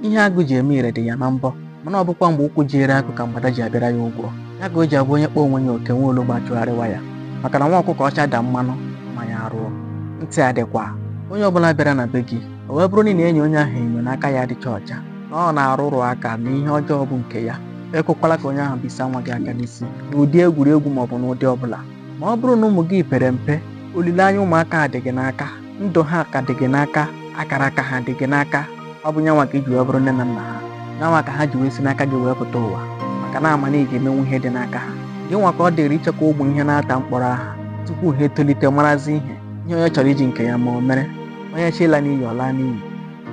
ihe agụ ji eme ire dị ya na mbọ mana ọ bụkwa mgbe ụkwụ jiri agụ ka mgbada ji abịara ya ụgwọ ya ka o ji abụ onye kpọọ onwe ya oke nwa ologbo achụgharịwa ya maka na nwa ọkụkọ ọcha daa mmanụ mma ya arụọ ntị adịkwa onye ọbụla bịara na be gị o wee bụrụ na ị na-enyo onye ahụ enyo na aka ya adịcha ọcha na ọ na-arụrụ aka na ihe ọjọọ bụ nke ya ekwekwala ka onye ahụ bisa nwa gị aka n'isi n'ụdị egwuregwu maọbụ n'ụdị ọbụla ma ọ bụrụ na ụmụ gị pere mpe olileanya ụmụaka a dị gị n'aka ndụ ha ka dị gị n'aka akara aka ha dị gị n'aka ọ bụ nyanwa ka ị ji wee bụrụ nne na nna ha nyanwa ka ha ji wee si n'aka gị wee pụta ụwa maka na a ma na ị ga-emenwu ihe dị n'aka ha gị nwa ka ọ dịrị ichekwa ụmụ ihe n'atọ m kpọrọ aha tupu ha etolite marazi ihe ihe onye chọrọ iji nke ya mee o mere onye chọọ ịla n'iyi ọ laa n'iyi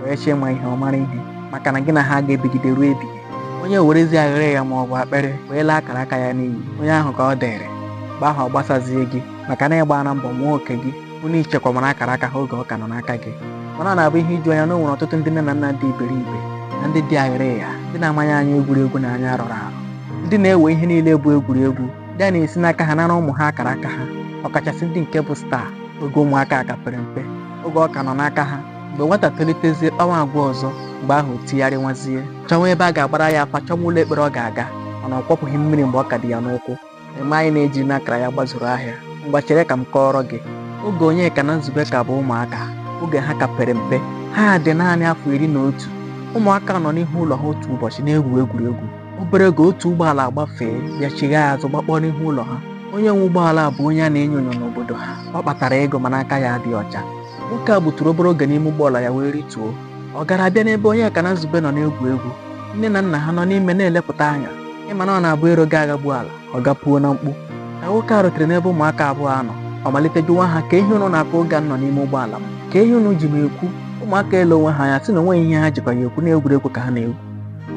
onye chọọ ịma ihe ọ mara ihe maka na gị na ha aga ebigide ruo ebighị onye werezi aghịrịgha ma ọ bụ akpịrị wee laa akara aka ya n'iyi onye ahụ ka ọ dịrị mgbe ahụ ọ gbasazie gị maka na ị gbaana mbọ nwaa oko gị n'ichekwamara akara aka ha oge ọ ka nọ n'aka gị mana ọ na-abụ ihe iju anya na o nwere ọtụtụ ndị nne na nna dị iberibe na ndị dị aghịrịgha ndị na-amaghị anya egwuregwu na anya rọrọ arọ ndị na-ewe ihe niile bụ egwuregwu ndị a na-esi n'aka ha nara ụmụ ha akara aka ha ọkachasị ndị nke bụ star oge ụmụaka a ka pere mpe oge ọ ka nọ n'aka ha mgbe nwata tolitezie kpawa agwa ọzọ mgbe ahụ o tigharịwazie chọwa ebe a ga-agbara ya afa chọwa ụlọ ekpere ọ ga-aga mana ọ kwọpụghị mmiri mgbe ọ ka dị ya n'ụkwụ Eme anyị na-eji n'akara ya gbazuru ahịa. Ngwa chere ka m kọọrọ gị. Oge Onyeka na Nzube ka bụ ụmụaka, oge ha ka pere mpe, ha dị naanị afọ iri na otu. Ụmụaka nọ n'ihu ụlọ ha otu ụbọchị na-egwu egwuregwu. Obere oge otu ụgbọala agbafee bịa chighaa azụ gbakpọọ n'ihu ụlọ ha. Onye nwe ụgbọala a bụ onye a na-enyo enyo n'obodo ha. Ọ kpatara ego mana aka ya adịghị ọcha. Nwoke a gbuturu obere oge n'ime ụgbọala ya wee rituo. ọ gara abịa n'ebe onyeka na nzube nọ na-egwu egwu nne na nna ha nọ n'ime na-elepụta anya ị ma na ọ na-abụ ero ga-aghagbu ala ọ gaa puo na mkpu ka nwoke a rutere n'ebe ụmụaka abụọ a nọ ọ malite jụwa ha kee ihe unu na-akọ oge m nọ n'ime ụgbọala m kee ihe unu ji m ekwu ụmụaka elee onwe ha anya sị na o nweghị ihe ha jikwa ya ekwu na egwuregwu ka ha na-egwu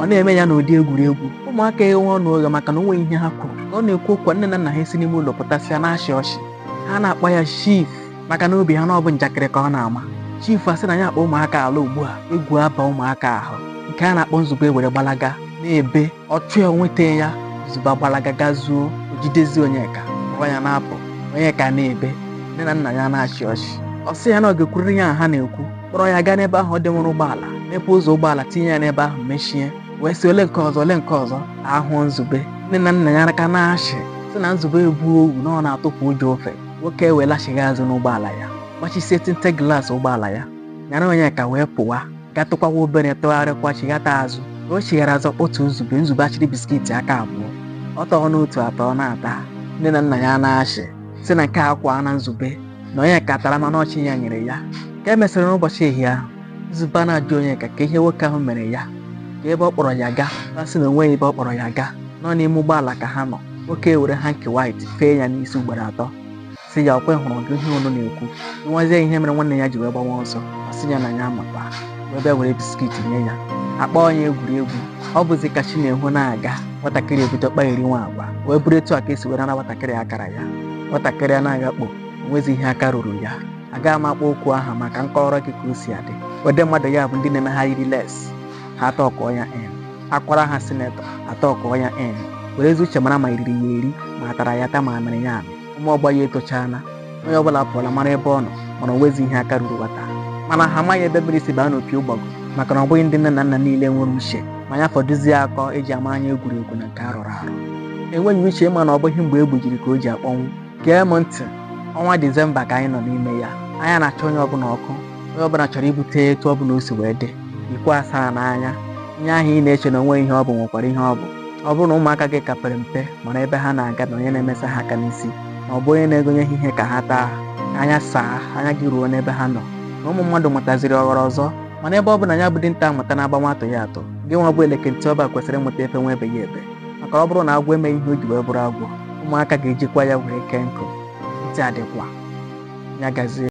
ọ na-eme ya n'ụdị egwuregwu ụmụaka eghe ọnụ oghe maka na o nweghị ihe ha kwuru ka ọ na-ekwu okwu a, nne na nna ha esi n'ime ụlọ pụtasịa na-achị ọchị ha na-akpọ ya chief maka n'obi ha na ọ bụ njakịrị ka ọ na-ama chifu asị na ya akpọ ụmụaka a ala ugbu a egwu aba ụmụaka ahụ nke a na-akpọ nzube were gbalaga na-ebe ọ chụ ya nweta ya nzube agbalaga gaa zoo o jidezie onyeka kpọrọ ya na-apụ onyeka na-ebe nne na nna ya na-achị ọchị ọ sị ya na ọ ga-ekwurịrị ihe ha na-ekwu kpọrọ ya gaa n'ebe ahụ o dewere ụgbọala mepee ụzọ ụgbọala tinye ya n'ebe ahụ mechie wee sị olee nke ọzọ olee nke ọzọ ahụ nzube nne na nna ya aka na-achị sị na nzube egbuo owu na ọ na-atụpụ ụjọ ofe nwoke wee lachighaa azụ n'ụgbọala ya gbachisie tinted glass ụgbọala ya nyara onyeka wee pụwa gatụkwawa obere tụgharịkwa chighata azụ ka o chighara azụ otu nzube nzube achịrị biskiti aka abụọ ọ tọọ n'otu atọ na-ata nne na nna ya na-achị sị na nke a akwaana nzube na onyeka tara mana ọ chi ya nyere ya ka e mesịrị n'ụbọchị ehihie ahụ Nzube na-ajụ Onyeka ka ihe nwoke ahụ mere ya ka ebe ọ kpọrọ ya gaa ọ sị na onweghị ebe ọ kpọrọ ya gaa na ọ n'ime ụgbọala ka ha nọ nwoke a ewere hanki white fee ya n'isi ugboro atọ sị ya ọkwe hụrụ gị ihe unu na-ekwu nwazie ihe mere nwanne ya ji wee gbawa ọsọ ọ sị ya na ya amakwa wee bịa were biskit nye ya a kpọọ ya egwuregwu ọ bụzi ka chi na-ehu na-aga nwatakịrị ebido kpagheriwa agwa wee bụrụ etu a ka e si were nara nwatakịrị akara ya nwatakịrị a na-agakpo o nwezi ihe aka ruru ya agaghị m akpọ okwu aha maka m kọrọ gị ka o si adị ụdị mmadụ ya bụ ndị na-eme ha yiri lace ha atọkụọ ya en akwara ha senator atọkụọ ya en were ezi uche mara ma e riri ya eri ma a tara ya ata ma a mịrị ya amị ụmụ ọgbọ ya etochaala onye ọbụla apụọla mara ebe ọ nọ mana o nwezi ihe aka ruru nwata mana ha amaghị ebe mmiri si baa n'opi ụgbọgụ maka na ọ bụghị ndị nne na nna niile nwere uche ma ya fọdụzie akọ eji ama anya egwuregwu na nke arụrụ arụ enweghị uche ịma na ọ bụghị mgbe e gbujiri ka o ji akpọnwụ gee m ntị ọnwa disemba ka anyị nọ n'ime ya anya na-acha onye ọbụla ọkụ onye ọbụla chọrọ ibute etu ọbụla o si wee dị ikwu asaa n'anya ihe ahụ ị na-eche na o nwe ihe ọ bụ nwekwara ihe ọ bụ ọ bụrụ na ụmụaka gị ka pere mpe mara ebe ha na-aga na onye na-emesa ha aka n'isi ma ọ bụ onye na-egonye ha ihe ka ha taa ka anya saa anya gị ruo n'ebe ha nọ na ụmụ mmadụ mụtaziri ọhụrụ ọzọ mana ebe ọ bụ na ya bụ dinta amụtana agbawa atụghị atụ gị nwa bụ eleke ntị ọba kwesịrị ịmụta efewa ebeghị ebe maka ọ bụrụ na agwọ emeghị ihe o ji wee bụrụ agwọ ụmụaka ga-ejikwa ya wee kee nkụ ntị adịkwa ya gazie